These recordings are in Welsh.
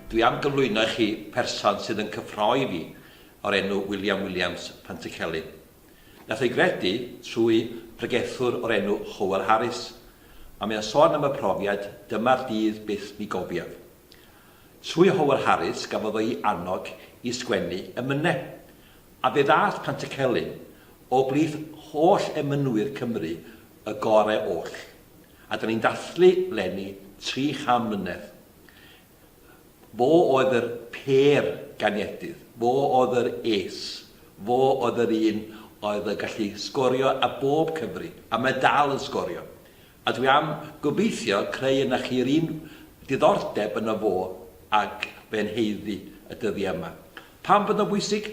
Dwi am gyflwyno i chi person sydd yn cyffroi i fi o'r enw William Williams, Pantycelyn. Nath o'i gredu trwy bregethwr o'r enw Howel Harris, a mae o'n sôn am y profiad 'dyma'r dydd byth mi gofiaf'. Trwy Howel Harris gafodd o'i annog i sgwennu 'Emyne', A be ddaeth Pantycelyn o blith holl emynwyr Cymru y gore oll. A da ni'n dathlu leni tri cham mlynedd. Fo oedd yr pêr ganiedydd. Fo oedd yr ace. Fo oedd yr un oedd yn gallu sgorio ar bob cyfri. A mae dal yn sgorio. A dwi am gobeithio creu ynoch chi yr un diddordeb yno fo ag fe'n haeddu y dyddiau yma. Pam fod o'n bwysig?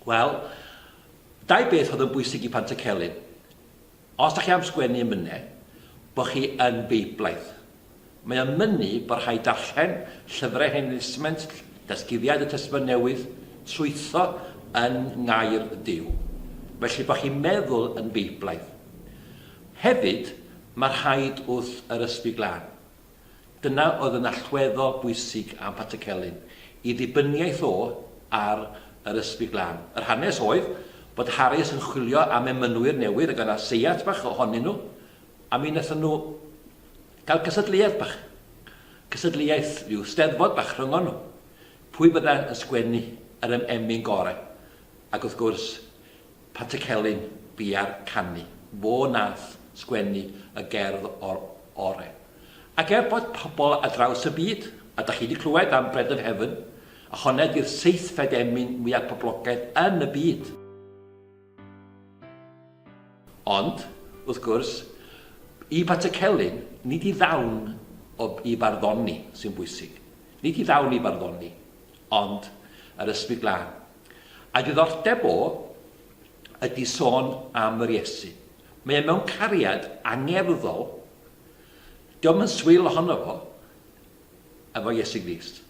Wel, dau beth oedd yn bwysig i Pantycelyn. Os da chi am sgwennu yn mynne, bod chi yn Beiblaeth. Mae o'n mynnu bod rhaid darllen llyfrau Hen Destament, Datguddiad y Testament Newydd, trwytho yn Ngair Duw, felly bod chi'n meddwl yn Beiblaidd. Hefyd, mae rhaid wrth yr Ysbryd Glân. Dyna oedd yn allweddol bwysig am Patrick Celyn, i ddibyniaeth o ar yr Ysbryd Glân. Yr hanes oedd bod Harris yn chwilio am emynwyr newydd ac oedd 'na seiat bach ohonyn nhw, a mi wnaethon nhw Cael cystadleuaeth bach. Cystadleuaeth, rhyw steddfod bach rhyngon nhw. Pwy fydda yn sgwennu yr em emyn gore? Ac wrth gwrs, Pat y Celyn, bia'r canu. Fo nath sgwennu y gerdd or ore. Ac er bod pobl ar draws y byd, a dach chi di clywed am Bread of Heaven, a honna di'r seithfed emyn mwya poblogaidd yn y byd. Ond, wrth gwrs, i Pat y Celyn, nid i ddawn o i farddoni sy'n bwysig. Nid i ddawn i farddoni, ond yr Ysbryd Glân. A'i ddiddordeb o ydy sôn am yr Iesu. Mae e mewn cariad angerddol. Dio'm yn swil ohono fo. efo Iesu Grist.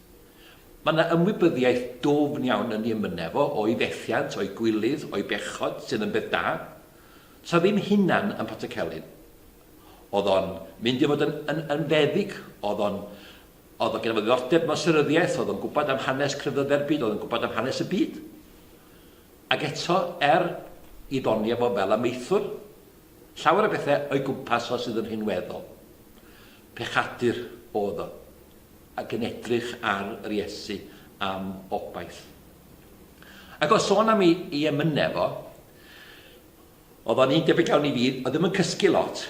Mae yna ymwybyddiaeth dwfn iawn yn ei emynau fo, o'i fethiant, o'i gwilydd, o'i bechod, sydd yn beth da. Sa ddim hunan yn potel celyn. Oedd o'n mynd i fod yn, yn, yn feddyg, oedd o'n, oedd o gen fo ddiddordeb mewn seryddiaeth, oedd o'n gwybod am hanes crefydde'r byd, oedd o'n gwybod am hanes y byd. Ac eto, er i ddoni efo fel amaethwr, llawer o bethau o'i gwmpas o sydd yn rhinweddol. Pechadur oedd o, ac yn edrych ar yr Iesu am obaith. Ac o sôn am ei, ei emynau fo, oedd o'n un debyg iawn i fi, oedd ddim yn cysgu lot.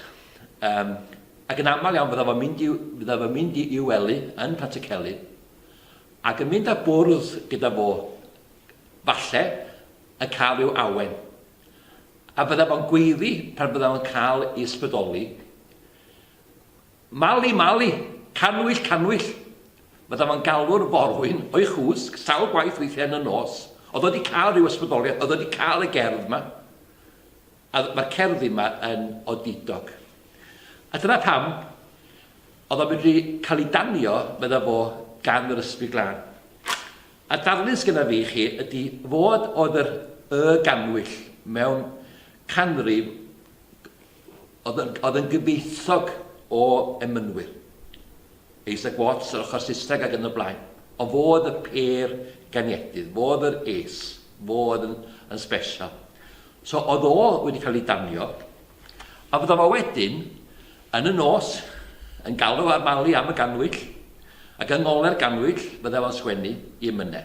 Um, ac yn aml iawn fydda fo'n mynd i, fydda fo'n mynd i, i wely yn Pantycelyn, ac yn mynd a bwrdd gyda fo, falle, yn cael i'w awen. A fydda fo'n gweiddi pan fydda fo'n cael ei ysbrydoli, Mali, Mali! Cannwyll, Cannwyll! Fydda fo'n galw'r forwyn o'i chwsg sawl gwaith weithiau yn y nos. Oedd o 'di cael rhyw ysbrydoliaeth, oedd o 'di cael y gerdd 'ma. A mae'r cerddi 'ma yn odidog. A dyna pam oedd o'n medru cael ei danio, fydda fo, gan yr ysbryd glân. A darlun sgynna fi i chi ydy fod oedd yr y gannwyll mewn canrif Oedd yn gyfoethog o emynwyr. Isaac Watts yr ochr Saesneg ac yn y blaen. Ond fo oedd y pêr ganiedydd, fo oedd yr ace, fo oedd yn, yn special. So oedd o wedi cael ei danio, a fydda fo wedyn, yn y nos, yn galw ar Mali am y ganwyll, ac yng ngole'r ganwyll fydda fo'n sgwennu i emynne.